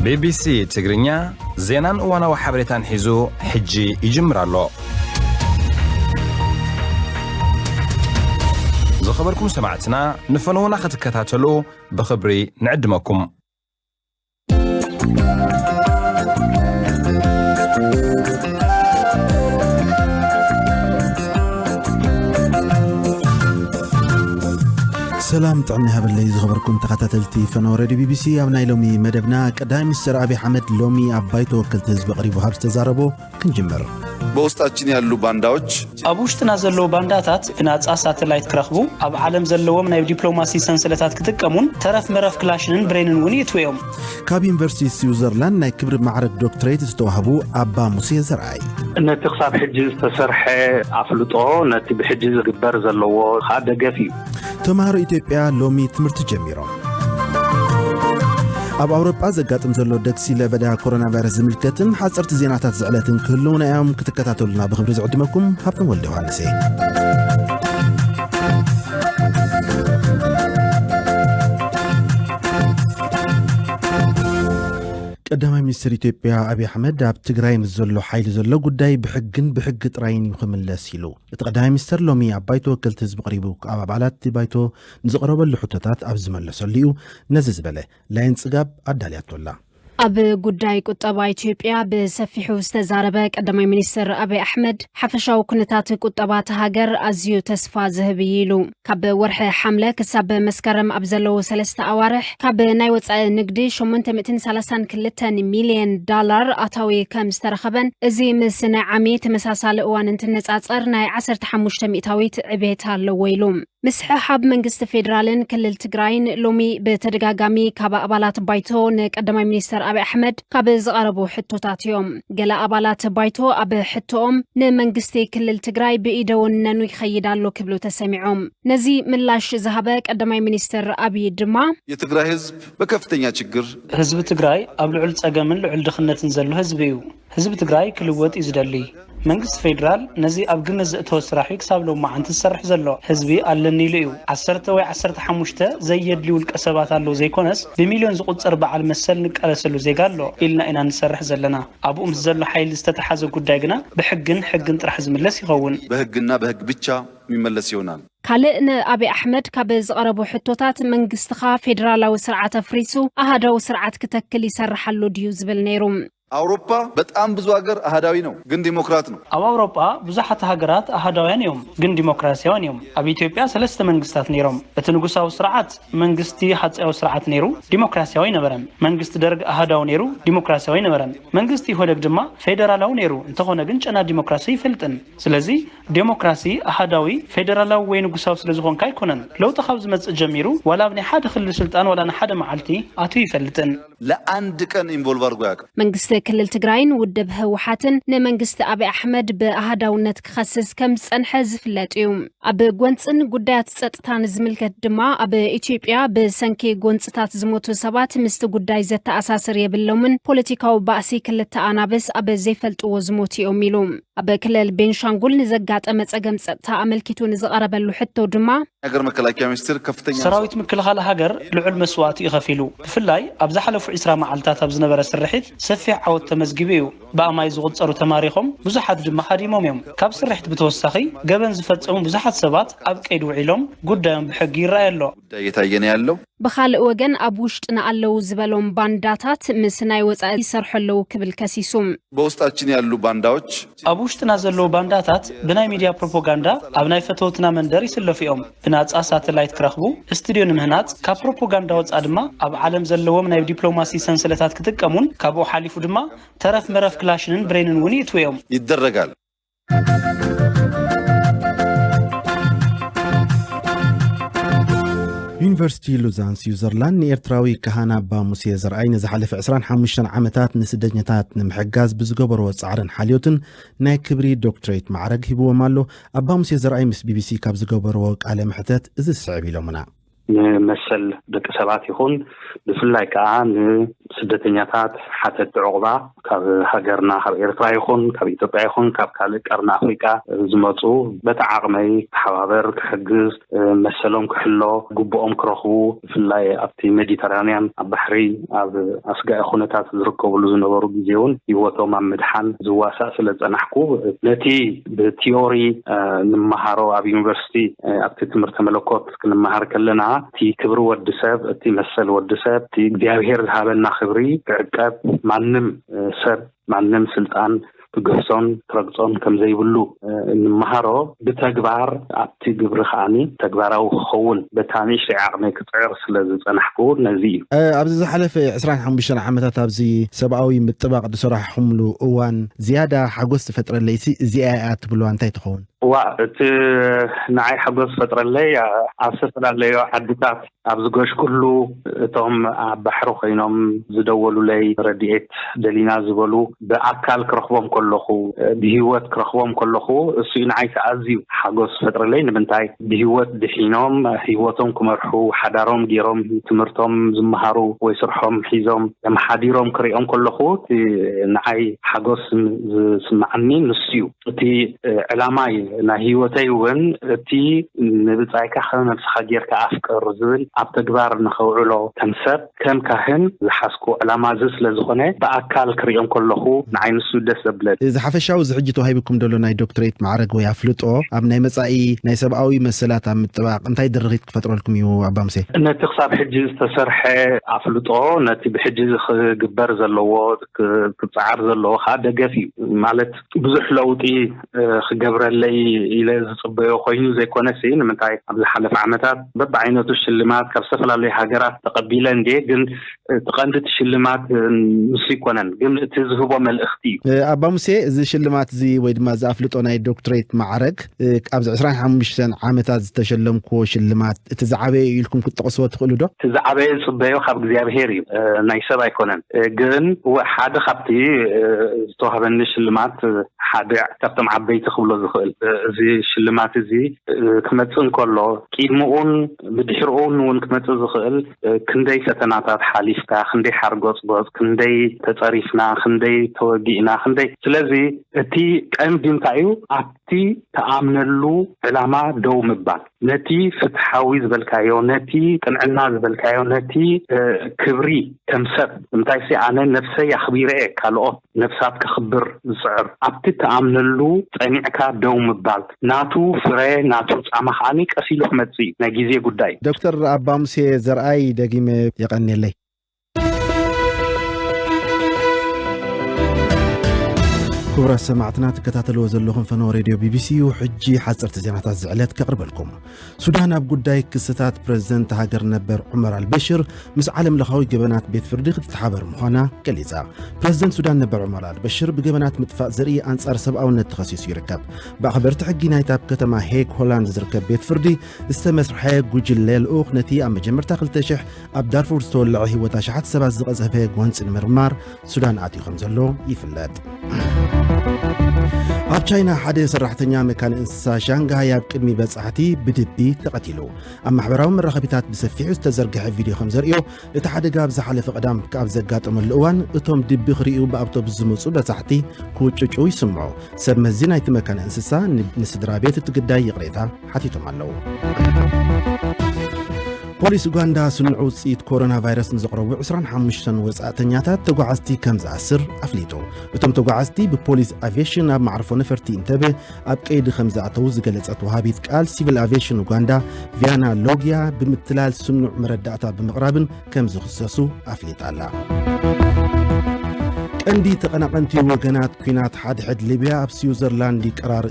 ቢቢሲ ትግርኛ ዜናን እዋናዊ ሓበሬታን ሒዙ ሕጂ ይጅምር ኣሎ ዝኸበርኩም ሰማዕትና ንፈነውና ክትከታተሉ ብኽብሪ ንዕድመኩም ሰላም ጥዕና ይሃበለይ ዝኸበርኩም ተኸታተልቲ ፈነወ ረድዮ ቢቢሲ ኣብ ናይ ሎሚ መደብና ቀዳማይ ሚኒስትር ኣብዪ ኣሕመድ ሎሚ ኣብ ባይቶ ወከልቲ ህዝቢ ቀሪቡ ካብ ዝተዛረቦ ክንጅምር በውስጣችን ያሉ ባንዳዎች ኣብ ውሽጥና ዘለዉ ባንዳታት ብናጻ ሳተላይት ክረኽቡ ኣብ ዓለም ዘለዎም ናይ ዲፕሎማሲ ሰንሰለታት ክጥቀሙን ተረፍ መረፍ ክላሽንን ብሬንን እውን ይእትውዮም ካብ ዩኒቨርሲቲ ስዊዘርላንድ ናይ ክብሪ ማዕረግ ዶክትሬት ዝተዋህቡ ኣባ ሙሴ ዘርኣይ ነቲ ክሳብ ሕጂ ዝተሰርሐ ኣፍልጦ ነቲ ብሕጂ ዝግበር ዘለዎ ከዓ ደገፍ እዩ ተምሃሮ ኢትዮጵያ ሎሚ ትምህርቲ ጀሚሮም ኣብ ኣውሮጳ ዘጋጥም ዘሎ ደግሲ ለበዳ ኮሮና ቫይረስ ዝምልከትን ሓፀርቲ ዜናታት ዝዕለትን ክህልውና እዮም ክትከታተሉና ብክብሪ ዝዕድመኩም ሃብቶም ወልደ ዮሃንስ እየ ቀዳማይ ሚኒስትር ኢትዮጵያ ኣብዪ ኣሕመድ ኣብ ትግራይ ምስ ዘሎ ሓይሊ ዘሎ ጉዳይ ብሕግን ብሕጊ ጥራይን እዩ ክምለስ ኢሉ እቲ ቀዳማይ ሚኒስትር ሎሚ ኣብ ባይቶ ወከልቲ ህዝቢ ቀሪቡ ኣብ ኣባላት ባይቶ ንዝቐረበሉ ሕቶታት ኣብ ዝመለሰሉ እዩ ነዚ ዝበለ ላይን ጽጋብ ኣዳልያቶ ኣላ ኣብ ጉዳይ ቁጠባ ኢትዮጵያ ብሰፊሑ ዝተዛረበ ቀዳማይ ሚኒስትር ኣቢይ ኣሕመድ፣ ሓፈሻዊ ኩነታት ቁጠባ እታ ሃገር ኣዝዩ ተስፋ ዝህብ እዩ ኢሉ። ካብ ወርሒ ሓምለ ክሳብ መስከረም ኣብ ዘለዉ ሰለስተ ኣዋርሕ ካብ ናይ ወፃኢ ንግዲ ሸሞንተ ሚእትን ሰላሳን ክልተን ሚልየን ዳላር ኣታዊ ከም ዝተረኸበን እዚ ምስ ናይ ዓሚ ተመሳሳሊ እዋን እንትነፃፀር ናይ ዓሰርተ ሓሙሽተ ሚእታዊት ዕቤት ኣለዎ ኢሉ። ምስሕሓብ መንግስቲ ፌዴራልን ክልል ትግራይን ሎሚ ብተደጋጋሚ ካብ ኣባላት ባይቶ ንቀዳማይ ሚኒስተር ኣብይ ኣሕመድ ካብ ዝቐረቡ ሕቶታት እዮም። ገለ ኣባላት ባይቶ ኣብ ሕቶኦም ንመንግስቲ ክልል ትግራይ ብኢደ ወነኑ ይኸይድ ኣሎ ክብሉ ተሰሚዖም። ነዚ ምላሽ ዝሃበ ቀዳማይ ሚኒስተር ኣብይ ድማ የትግራይ ህዝብ በከፍተኛ ችግር ህዝቢ ትግራይ ኣብ ልዑል ፀገምን ልዑል ድኽነትን ዘሎ ህዝቢ እዩ። ህዝቢ ትግራይ ክልወጥ እዩ ዝደሊ። መንግስቲ ፌድራል ነዚ ኣብ ግምት ዘእተወ ስራሕ እዩ ክሳብ ሎማዓንቲ ዝሰርሕ ዘሎ። ህዝቢ ኣለኒ ኢሉ እዩ። ዓሰርተ ወይ ዓሰርተ ሓሙሽተ ዘየድልዩ ውልቀ ሰባት ኣለው ዘይኮነስ ብሚልዮን ዝቑፀር በዓል መሰል ንቃለሰሉ ዜጋ ኣሎ ኢልና ኢና ንሰርሕ ዘለና። ኣብኡ ምስ ዘሎ ሓይሊ ዝተተሓዘ ጉዳይ ግና ብሕግን ሕግን ጥራሕ ዝምለስ ይኸውን። በሕግና በሕግ ብቻ ሚመለስ ይሆናል። ካልእ ንኣብይ ኣሕመድ ካብ ዝቐረቡ ሕቶታት መንግስትኻ ፌደራላዊ ስርዓት ኣፍሪሱ ኣሃዳዊ ስርዓት ክተክል ይሰርሕ ኣሎ ድዩ ዝብል ነይሩ። ኣውሮፓ በጣም ብዙ ሀገር ኣሀዳዊ ነው ግን ዲሞክራት ነው። ኣብ ኣውሮጳ ብዙሓት ሃገራት ኣሃዳውያን እዮም ግን ዲሞክራስያውያን እዮም። ኣብ ኢትዮጵያ ሰለስተ መንግስታት ነይሮም። እቲ ንጉሳዊ ስርዓት፣ መንግስቲ ሃጸያዊ ስርዓት፣ ነይሩ፣ ዲሞክራስያዊ ኣይነበረን። መንግስቲ ደርግ ኣሃዳዊ ነይሩ፣ ዲሞክራስያዊ ኣይነበረን። መንግስቲ ኢህወደግ ድማ ፌደራላዊ ነይሩ፣ እንተኾነ ግን ጨና ዲሞክራሲ ኣይፈልጥን። ስለዚ ዴሞክራሲ ኣሃዳዊ፣ ፌደራላዊ ወይ ንጉሳዊ ስለ ዝኾንካ ኣይኮነን። ለውጢ ካብ ዝመጽእ ጀሚሩ ዋላ ኣብ ናይ ሓደ ክልል ስልጣን ዋላ ንሓደ መዓልቲ ኣትዩ ኣይፈልጥን። ለኣንድ ቀን ኢንቮልቭ ኣርጎ ኣያቅም። መንግስቲ ክልል ትግራይን ውድብ ህወሓትን ንመንግስቲ ኣብይ ኣሕመድ ብኣሃዳውነት ክኸስስ ከም ዝጸንሐ ዝፍለጥ እዩ። ኣብ ጎንጽን ጉዳያት ጸጥታን ዝምልከት ድማ ኣብ ኢትዮጵያ ብሰንኪ ጎንጽታት ዝሞቱ ሰባት ምስቲ ጉዳይ ዘተኣሳስር የብሎምን፣ ፖለቲካዊ ባእሲ ክልተ ኣናብስ ኣብ ዘይፈልጥዎ ዝሞቱ እዮም ኢሉ። ኣብ ክልል ቤንሻንጉል ንዘጋጠመ ፀገም ፀጥታ ኣመልኪቱ ንዝቐረበሉ ሕቶ ድማ፣ ሃገር መከላከያ ሚኒስቴር ከፍተኛ ሰራዊት ምክልኻል ሃገር ልዑል መስዋእቲ እዩ ከፊሉ። ብፍላይ ኣብ ዝሓለፉ ዕስራ መዓልታት ኣብ ዝነበረ ስርሒት ሰፊሕ ዓወት ተመዝጊቡ እዩ። ብኣማኢት ዝቑፀሩ ተማሪኾም፣ ብዙሓት ድማ ሃዲሞም እዮም። ካብ ስርሒት ብተወሳኺ ገበን ዝፈፀሙ ብዙሓት ሰባት ኣብ ቀይዲ ውዒሎም ጉዳዮም ብሕጊ ይረኣይ ኣሎ። ጉዳይ እየታየ ነው ያለው። ብኻልእ ወገን ኣብ ውሽጥና ኣለው ዝበሎም ባንዳታት ምስ ናይ ወፃኢ ይሰርሑ ኣለው ክብል ከሲሱ። በውስጣችን ያሉ ባንዳዎች። ኣብ ውሽጥና ዘለው ባንዳታት ብናይ ሚድያ ፕሮፖጋንዳ ኣብ ናይ ፈተውትና መንደር ይስለፉ እዮም። ብናፃ ሳተላይት ክረኽቡ፣ እስቱድዮ ንምህናፅ፣ ካብ ፕሮፖጋንዳ ወፃእ ድማ ኣብ ዓለም ዘለዎም ናይ ዲፕሎማሲ ሰንሰለታት ክጥቀሙን ካብኡ ሓሊፉ ድማ ተረፍ መረፍ ክላሽንን ብሬንን እውን ይእትዉ እዮም። ይደረጋል። ዩኒቨርሲቲ ሉዛን ስዊዘርላንድ ንኤርትራዊ ካህን ኣባ ሙሴ ዘርኣይ ንዝሓለፈ 25 ዓመታት ንስደተኛታት ንምሕጋዝ ብዝገበሮ ጻዕርን ሓልዮትን ናይ ክብሪ ዶክትሬት ማዕረግ ሂብዎም ኣሎ ኣባ ሙሴ ዘርኣይ ምስ ቢቢሲ ካብ ዝገበርዎ ቃለ መሕተት እዚ ዝስዕብ ኢሎምና ንመሰል ደቂ ሰባት ይኹን ብፍላይ ከዓ ንስደተኛታት ሓተቲ ዕቑባ ካብ ሃገርና ካብ ኤርትራ ይኹን ካብ ኢትዮጵያ ይኹን ካብ ካልእ ቀርኒ ኣፍሪቃ ዝመፁ በቲ ዓቕመይ ክሓባበር ክሕግዝ መሰሎም ክሕሎ ግቡኦም ክረኽቡ ብፍላይ ኣብቲ ሜዲተራንያን ኣብ ባሕሪ ኣብ ኣስጋኢ ኩነታት ዝርከብሉ ዝነበሩ ግዜ እውን ህይወቶም ኣብ ምድሓን ዝዋሳእ ስለ ዝፀናሕኩ ነቲ ብቲዮሪ ንመሃሮ ኣብ ዩኒቨርሲቲ ኣብቲ ትምህርተ መለኮት ክንመሃር ከለና እቲ ክብሪ ወዲ ሰብ እቲ መሰል ወዲ ሰብ እቲ እግዚኣብሄር ዝሃበና ክብሪ ክዕቀብ ማንም ሰብ ማንም ስልጣን ክግህሶን ክረግጾን ከም ዘይብሉ እንመሃሮ ብተግባር ኣብቲ ግብሪ ከዓኒ ተግባራዊ ክኸውን በታ ንእሽተይ ዓቕመይ ክጽዕር ስለ ዝጸናሕኩ ነዚ እዩ። ኣብዚ ዝሓለፈ ዕስራን ሓሙሽተን ዓመታት ኣብዚ ሰብኣዊ ምጥባቕ ዝሰራሕኹምሉ እዋን ዝያዳ ሓጎስ ዝፈጥረለይሲ እዚኣ እያ እትብልዋ እንታይ ትኸውን? ዋእ እቲ ንዓይ ሓጎስ ዝፈጥረለይ ኣብ ዝተፈላለዩ ዓድታት ኣብ ዝገሽኩሉ እቶም ኣብ ባሕሪ ኮይኖም ዝደወሉለይ ረዲኤት ደሊና ዝበሉ ብኣካል ክረኽቦም ከለኹ ብሂወት ክረኽቦም ከለኹ እሱ እዩ ንዓይ ከዓ ኣዝዩ ሓጎስ ዝፈጥረለይ ንምንታይ ብሂወት ድሒኖም ሂወቶም ክመርሑ ሓዳሮም ገይሮም ትምህርቶም ዝመሃሩ ወይ ስርሖም ሒዞም ተመሓዲሮም ክሪኦም ከለኹ እቲ ንዓይ ሓጎስ ዝስመዓኒ ንሱ እዩ። እቲ ዕላማይ ናይ ህይወተይ እውን እቲ ንብጻይካ ከም ነብስኻ ጌርካ ኣፍቅር ዝብል ኣብ ተግባር ንኸውዕሎ ከም ሰብ ከም ካህን ዝሓዝኩዎ ዕላማ እዚ ስለ ዝኾነ ብኣካል ክሪኦ እንከለኹ ንዓይ ንሱ ደስ ዘብለኒ እዚ ሓፈሻዊ እዚ ሕጂ ተዋሂቡኩም ዘሎ ናይ ዶክትረይት ማዕረግ ወይ ኣፍልጦ ኣብ ናይ መጻኢ ናይ ሰብኣዊ መሰላት ኣብ ምጥባቕ እንታይ ድርኺት ክፈጥረልኩም እዩ ኣባ ሙሴ? ነቲ ክሳብ ሕጂ ዝተሰርሐ ኣፍልጦ ነቲ ብሕጂ እዚ ክግበር ዘለዎ ክጸዓር ዘለዎ ከኣ ደገፍ እዩ ማለት ብዙሕ ለውጢ ክገብረለይ ኢለ ዝፅበዮ ኮይኑ ዘይኮነሲ ንምንታይ ኣብ ዝሓለፈ ዓመታት በብዓይነቱ ሽልማት ካብ ዝተፈላለዩ ሃገራት ተቐቢለ እንድየ ግን እቲ ቀንዲ እቲ ሽልማት ንሱ ይኮነን ግን እቲ ዝህቦ መልእኽቲ እዩ ኣባ ሙሴ እዚ ሽልማት እዚ ወይ ድማ እዚ ኣፍልጦ ናይ ዶክትሬት ማዕረግ ኣብዚ ዕስራን ሓሙሽተን ዓመታት ዝተሸለምክዎ ሽልማት እቲ ዝዓበየ እዩ ኢልኩም ክትጠቕስዎ ትኽእሉ ዶ? እቲ ዝዓበየ ዝጽበዮ ካብ እግዚኣብሄር እዩ፣ ናይ ሰብ ኣይኮነን። ግን እወ ሓደ ካብቲ ዝተዋህበኒ ሽልማት ሓደ ካብቶም ዓበይቲ ክብሎ ዝኽእል እዚ ሽልማት እዚ ክመጽእ እንከሎ ቂድምኡን ብድሕርኡን እውን ክመጽእ ዝኽእል ክንደይ ፈተናታት ሓሊፍካ ክንደይ ሓርጎጽጎጽ ክንደይ ተጸሪፍና ክንደይ ተወጊእና ክንደይ ስለዚ እቲ ቀንዲ እንታይ እዩ እቲ ትኣምነሉ ዕላማ ደው ምባል፣ ነቲ ፍትሓዊ ዝበልካዮ፣ ነቲ ቅንዕና ዝበልካዮ፣ ነቲ ክብሪ ከም ሰብ፣ ንምንታይሲ ኣነ ነብሰይ ኣኽቢረ'የ ካልኦት ነብሳት ከኽብር ዝጽዕር፣ ኣብቲ ትኣምነሉ ጸኒዕካ ደው ምባል፣ ናቱ ፍረ ናቱ ጻማ ከኣ ቀስ ኢሉ ክመጽእ'ዩ፣ ናይ ግዜ ጉዳይ'ዩ። ዶክተር ኣባ ሙሴ ዘርኣይ ደጊመ የቐንየለይ። ክቡራት ሰማዕትና ትከታተልዎ ዘለኹም ፈነወ ሬድዮ ቢቢሲ እዩ ሕጂ ሓፀርቲ ዜናታት ዝዕለት ከቕርበልኩም ሱዳን ኣብ ጉዳይ ክስታት ፕረዚደንት ሃገር ነበር ዑመር ኣልበሽር ምስ ዓለም ለኻዊ ገበናት ቤት ፍርዲ ክትተሓበር ምዃና ገሊጻ ፕረዚደንት ሱዳን ነበር ዑመር ኣልበሽር ብገበናት ምጥፋእ ዘርኢ ኣንጻር ሰብኣውነት ተኸሲሱ ይርከብ ብኣኽበርቲ ሕጊ ናይቲ ኣብ ከተማ ሄግ ሆላንድ ዝርከብ ቤት ፍርዲ ዝተመስርሐ ጉጅለ ልኡኽ ነቲ ኣብ መጀመርታ 2 ኣብ ዳርፉር ዝተወለዐ ህይወት ኣሽሓት ሰባት ዝቐዘፈ ጎንፂ ንምርማር ሱዳን ኣትዩ ከም ዘሎ ይፍለጥ ኣብ ቻይና ሓደ ሰራሕተኛ መካነ እንስሳ ሻንግሃይ ኣብ ቅድሚ በጻሕቲ ብድቢ ተቐቲሉ ኣብ ማሕበራዊ መራኸቢታት ብሰፊሑ ዝተዘርግሐ ቪድዮ ከም ዘርእዮ እቲ ሓደጋ ኣብ ዝሓለፈ ቀዳም ካብ ዘጋጠመሉ እዋን እቶም ድቢ ክርእዩ ብኣውቶቡስ ዝመፁ በጻሕቲ ክውጭጩ ይስምዑ ሰብ መዚ ናይቲ መካነ እንስሳ ንስድራ ቤት እቲ ግዳይ ይቕሬታ ሓቲቶም ኣለዉ ፖሊስ ኡጋንዳ ስኑዕ ውፅኢት ኮሮና ቫይረስ ንዘቕረቡ 25 ወፃእተኛታት ተጓዓዝቲ ከም ዝኣስር ኣፍሊጡ እቶም ተጓዓዝቲ ብፖሊስ ኣቪሽን ኣብ ማዕርፎ ነፈርቲ እንተበ ኣብ ቀይዲ ከም ዝኣተዉ ዝገለፀት ወሃቢት ቃል ሲቪል ኣቪሽን ኡጋንዳ ቪያና ሎግያ ብምትላል ስኑዕ መረዳእታ ብምቕራብን ከም ዝኽሰሱ ኣፍሊጣ ኣላ ቀንዲ ተቐናቐንቲ ወገናት ኩናት ሓድሕድ ሊብያ ኣብ ስዊዘርላንድ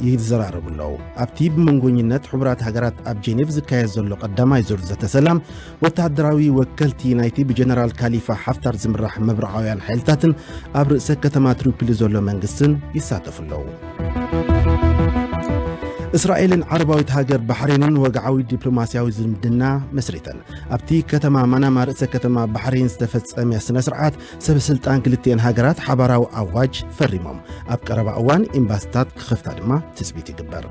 ይዘራረቡ ኣለዉ ኣብቲ ብመንጎኝነት ሕቡራት ሃገራት ኣብ ጄኔቭ ዝካየድ ዘሎ ቀዳማይ ዙር ዘተ ሰላም ወተሃደራዊ ወከልቲ ናይቲ ብጀነራል ካሊፋ ሓፍታር ዝምራሕ መብርዓውያን ሓይልታትን ኣብ ርእሰ ከተማ ትሪፕሊ ዘሎ መንግስትን ይሳተፉ ኣለዉ እስራኤልን ዓረባዊት ሃገር ባሕሬንን ወግዓዊ ዲፕሎማስያዊ ዝምድና መስሪተን ኣብቲ ከተማ ማናማ ርእሰ ከተማ ባሕሬን ዝተፈጸመ ስነ ስርዓት ሰበስልጣን ክልቲኤን ሃገራት ሓባራዊ ኣዋጅ ፈሪሞም ኣብ ቀረባ እዋን ኤምባስታት ክኸፍታ ድማ ትፅቢት ይግበር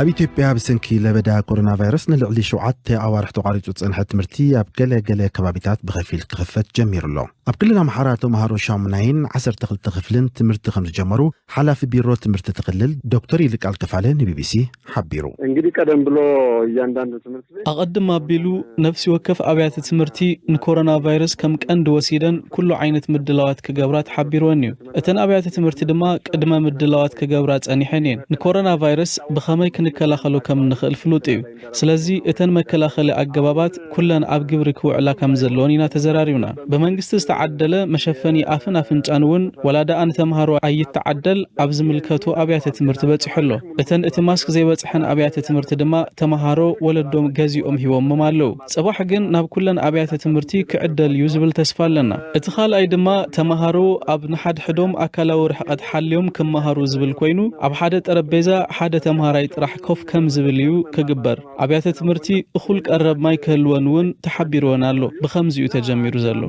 ኣብ ኢትዮጵያ ብሰንኪ ለበዳ ኮሮና ቫይረስ ንልዕሊ ሸውዓተ ኣዋርሕ ተቋሪፁ ዝፀንሐ ትምህርቲ ኣብ ገለ ገለ ከባቢታት ብኸፊል ክኽፈት ጀሚሩ ኣሎ ኣብ ክልል ኣምሓራ ተምሃሮ ሻሙናይን ዓሰርተ ክልተ ክፍልን ትምህርቲ ከምዝጀመሩ ሓላፊ ቢሮ ትምህርቲ እቲ ክልል ዶክተር ይልቃል ከፋለ ንቢቢሲ ሓቢሩ። እንግዲህ ቀደም ብሎ እያንዳንዱ ትምህርት ቤት ኣቐድም ኣቢሉ ነፍሲ ወከፍ ኣብያተ ትምህርቲ ንኮሮና ቫይረስ ከም ቀንዲ ወሲደን ኩሉ ዓይነት ምድላዋት ክገብራ ተሓቢሩወን እዩ። እተን ኣብያተ ትምህርቲ ድማ ቅድመ ምድላዋት ክገብራ ጸኒሐን እየን። ንኮሮና ቫይረስ ብኸመይ ክንከላኸሎ ከም እንኽእል ፍሉጥ እዩ። ስለዚ እተን መከላኸሊ ኣገባባት ኩለን ኣብ ግብሪ ክውዕላ ከምዘለወን ኢና ተዘራሪብና። ብመንግስቲ ዝተዓደለ መሸፈኒ ኣፍን ኣፍንጫን እውን ዋላ ደኣ ንተምሃሮ ኣይተዓደል ኣብ ዝምልከቶ ኣብያተ ትምህርቲ በፂሑ ኣሎ። እተን እቲ ማስክ ዘይበፅሐን ኣብያተ ትምህርቲ ድማ ተምሃሮ ወለዶም ገዚኦም ሂቦምም ኣለው። ፅባሕ ግን ናብ ኩለን ኣብያተ ትምህርቲ ክዕደል እዩ ዝብል ተስፋ ኣለና። እቲ ካልኣይ ድማ ተምሃሮ ኣብ ንሓድሕዶም ኣካላዊ ርሕቐት ሓልዮም ክመሃሩ ዝብል ኮይኑ ኣብ ሓደ ጠረጴዛ ሓደ ተምሃራይ ጥራሕ ኮፍ ከም ዝብል እዩ ክግበር። ኣብያተ ትምህርቲ እኹል ቀረብ ማይ ክህልወን እውን ተሓቢርወን ኣሎ። ብኸምዚ እዩ ተጀሚሩ ዘሎ።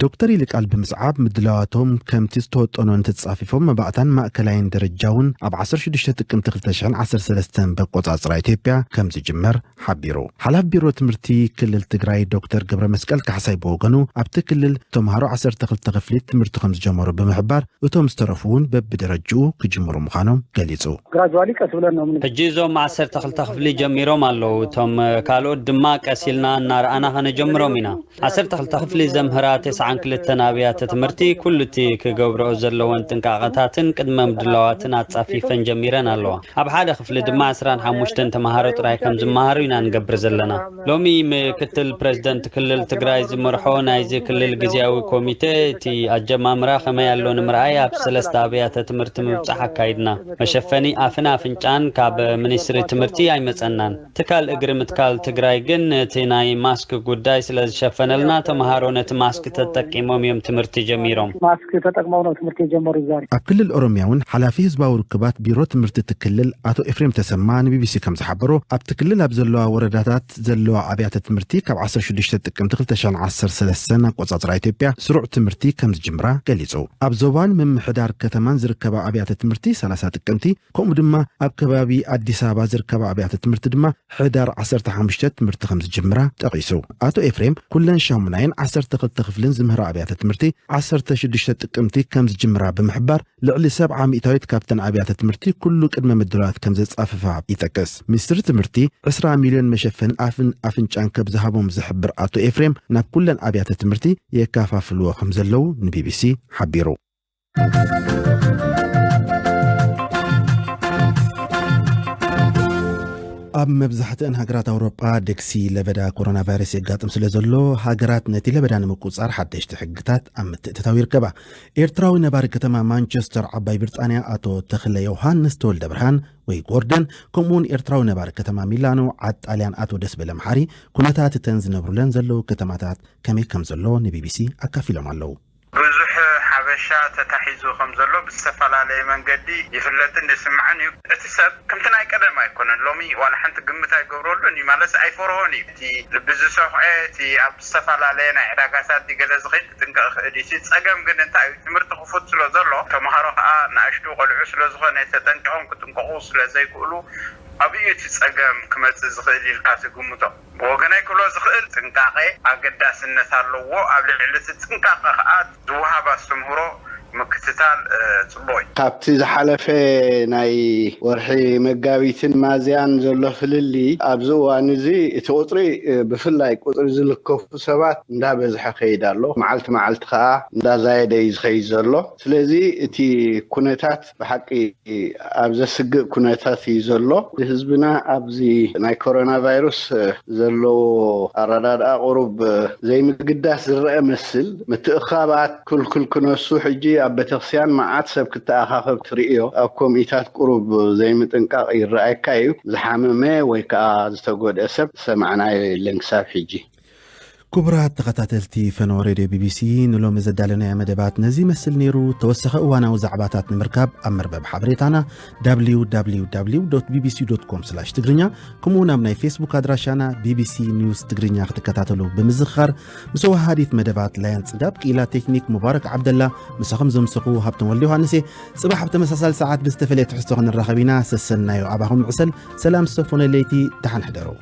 ዶክተር ይልቃል ብምስዓብ፣ ምድላዋቶም ከምቲ ዝተወጠኖ እንተተጻፊፎም መባእታን ማእከላይን ደረጃ እውን ኣብ ዓሰርተ ሽዱሽተ ጥቅምቲ ክልተ ሽሕን ዓሰርተ ሰለስተን በቆጻጽራ ኢትዮጵያ ከም ዝጅመር፣ ሓቢሩ። ሓላፊ ቢሮ ትምህርቲ ክልል ትግራይ ዶክተር ገብረመስቀል ካሕሳይ ብወገኑ ኣብቲ ክልል ተምሃሮ ዓሰርተ ክልተ ክፍሊት ትምህርቲ ከምዝጀመሩ ብምሕባር እቶም ዝተረፉ እውን በቢደረጅኡ ክጅምሩ ምዃኖም ገሊፁ። ግራጅዋሊ ቀስ ብለን ነው ምን ሕጂ እዞም ዓሰርተ ክልተ ክፍሊ ጀሚሮም ኣለዉ እቶም ካልኦት ድማ ቀስ ኢልና እናረኣና ከነጀምሮም ኢና። ዓሰርተ ክልተ ክፍሊ ዘምህራ ተስዓን ክልተን ኣብያተ ትምህርቲ ኩሉ እቲ ክገብርኦ ዘለወን ጥንቃቐታትን ቅድመ ምድላዋትን ኣጻፊፈን ጀሚረን ኣለዋ። ኣብ ሓደ ክፍሊ ድማ ዕስራን ሓሙሽተን ተመሃሮ ጥራይ ከም ዝመሃሩ ኢና ንገብር ዘለና። ሎሚ ምክትል ፕረዚደንት ክልል ትግራይ ዝመርሖ ናይዚ ክልል ግዝያዊ ኮሚቴ እቲ ኣጀማምራ ከመይ ኣሎ ንምርኣይ ኣብ ሰለስተ ኣብያተ ትምህርቲ ምብጻሕ ኣካይድና። መሸፈኒ ኣፍን ኣፍንጫን ካብ ሚኒስትሪ ትምህርቲ ኣይመጸናን። ትካል እግሪ ምትካል ትግራይ ግን እቲ ናይ ማስክ ጉዳይ ስለዝሸፈነልና ተምሃሮ ነቲ ማስክ ተጠቂሞም እዮም ትምህርቲ ጀሚሮም። ማስክ ተጠቅሞም ነው ትምህርቲ የጀመሩ ዛሬ። ኣብ ክልል ኦሮሚያ እውን ሓላፊ ህዝባዊ ርክባት ቢሮ ትምህርቲ እቲ ክልል ኣቶ ኤፍሬም ተሰማ ንቢቢሲ ከምዝሓበሮ ኣብቲ ክልል ኣብ ዘለዋ ወረዳታት ዘለዋ ኣብያተ ትምህርቲ ካብ ዓሰርተ ሽዱሽተ ጥቅምቲ ክልተ ሽሕን ዓሰርተ ሰለስተን ኣቆፃፅራ ኢትዮጵያ ስሩዕ ትምህርቲ ከምዝጅምራ ገሊፁ። ኣብ ዞባን ምምሕዳር ከተማን ዝርከባ ኣብያተ ትምህርቲ ሰላሳ ጥቅምቲ ከምኡ ድማ ኣብ ከባቢ ኣዲስ ኣበባ ዝርከባ ኣብያተ ትምህርቲ ድማ ሕዳር ዓሰርተ ሓሙሽተ ትምህርቲ ከም ዝጅምራ ጠቒሱ። ኣቶ ኤፍሬም፣ ኩለን ሻሙናይን ዓሰርተ ክልተ ክፍልን ዝምህራ ኣብያተ ትምህርቲ ዓሰርተ ሽዱሽተ ጥቅምቲ ከም ዝጅምራ ብምሕባር፣ ልዕሊ ሰብዓ ሚእታዊት ካብተን ኣብያተ ትምህርቲ ኩሉ ቅድመ ምድላዋት ከም ዘጻፍፋ ይጠቅስ። ሚኒስትሪ ትምህርቲ ዕስራ ሚልዮን መሸፈኒ ኣፍን ኣፍንጫን ከም ዝሃቦም ዝሕብር ኣቶ ኤፍሬም፣ ናብ ኩለን ኣብያተ ትምህርቲ የከፋፍልዎ ከም ዘለዉ ንቢቢሲ ሓቢሩ። ኣብ መብዛሕትአን ሃገራት ኣውሮጳ ደግሲ ለበዳ ኮሮና ቫይረስ የጋጥም ስለ ዘሎ ሃገራት ነቲ ለበዳ ንምቁፃር ሓደሽቲ ሕግታት ኣብ ምትእትታው ይርከባ ኤርትራዊ ነባሪ ከተማ ማንቸስተር ዓባይ ብሪጣንያ ኣቶ ተኽለ ዮሃንስ ተወልደ ብርሃን ወይ ጎርደን ከምኡውን ኤርትራዊ ነባሪ ከተማ ሚላኖ ዓድ ጣልያን ኣቶ ደስበለ መሓሪ ኩነታት እተን ዝነብሩለን ዘለዉ ከተማታት ከመይ ከም ዘሎ ንቢቢሲ ኣካፊሎም ኣለዉ ብዙሕ ሓበሻ ተታሒዙ ከም ዘሎ ብዝተፈላለየ መንገዲ ይፍለጥን ይስማዕን እዩ። እቲ ሰብ ከምቲ ናይ ቀደም ኣይኮነን። ሎሚ ዋላ ሓንቲ ግምት ኣይገብረሉን እዩ ማለትስ ኣይፈርሆን እዩ። እቲ ልቢ ዝሰዂዐ፣ እቲ ኣብ ዝተፈላለየ ናይ ዕዳጋታት ድዩ ገለ ዝኸይድ ክጥንቀቕ ይኽእል እዩ። እቲ ጸገም ግን እንታይ እዩ ትምህርቲ ክፉት ስለ ዘሎ ተማሃሮ ከኣ ንኣሽቱ ቆልዑ ስለ ዝኾነ ተጠንቂቖም ክጥንቀቑ ስለ ዘይክእሉ ኣብይ እዩ እቲ ጸገም ክመጽእ ዝኽእል ኢልካ ትግምቶ? ብወገነይ ክብሎ ዝኽእል ጥንቃቐ ኣገዳስነት ኣለዎ፣ ኣብ ልዕሊ እቲ ጥንቃቐ ከኣ ዝወሃብ ኣስተምህሮ ምክትታል ጽቡቕ እዩ። ካብቲ ዝሓለፈ ናይ ወርሒ መጋቢትን ሚያዝያን ዘሎ ፍልልይ ኣብዚ እዋን እዚ እቲ ቁጽሪ ብፍላይ ቁጽሪ ዝልከፉ ሰባት እንዳበዝሐ ይኸይድ ኣሎ፣ መዓልቲ መዓልቲ ከኣ እንዳዛየደ እዩ ዝኸይድ ዘሎ፣ ስለዚ እቲ ኩነታት። ብሓቂ ኣብ ዘስግእ ኩነታት እዩ ዘሎ ህዝብና ኣብዚ ናይ ኮሮና ቫይሩስ ዘለዎ ኣረዳድኣ ቁሩብ ዘይምግዳስ ዝረኣ መስል ምትእኻባት ኩልኩል ክነሱ ሕጂ ኣብ ቤተክስያን መዓት ሰብ ክተኣኻኸብ ትርእዮ ኣብ ኮምኢታት ቁሩብ ዘይምጥንቃቅ ይረኣየካ እዩ ዝሓመመ ወይ ከኣ ዝተጎድኤ ሰብ ዝሰማዕናዮ የለን ክሳብ ሕጂ ክቡራት ተኸታተልቲ ፈነወ ሬድዮ ቢቢሲ ንሎሚ ዘዳለናዮ መደባት ነዚ ይመስል ነይሩ ተወሳኺ እዋናዊ ዛዕባታት ንምርካብ ኣብ መርበብ ሓበሬታና www ቢቢሲ ኮም ትግርኛ ከምኡውን ኣብ ናይ ፌስቡክ ኣድራሻና ቢቢሲ ኒውስ ትግርኛ ክትከታተሉ ብምዝኽኻር ምስ ወሃዲት መደባት ላያን ጽጋብ ክኢላ ቴክኒክ ሙባረክ ዓብደላ ምሳኹም ዘምሰኹ ሃብቶም ወልደ ዮሃንስ እየ ጽባሕ ኣብ ተመሳሳሊ ሰዓት ብዝተፈለየ ትሕዝቶ ክንራኸብ ኢና ሰሰናዮ ኣባኹም ዕሰል ሰላም ዝተፎነ ለይቲ ደሓን ሕደሩ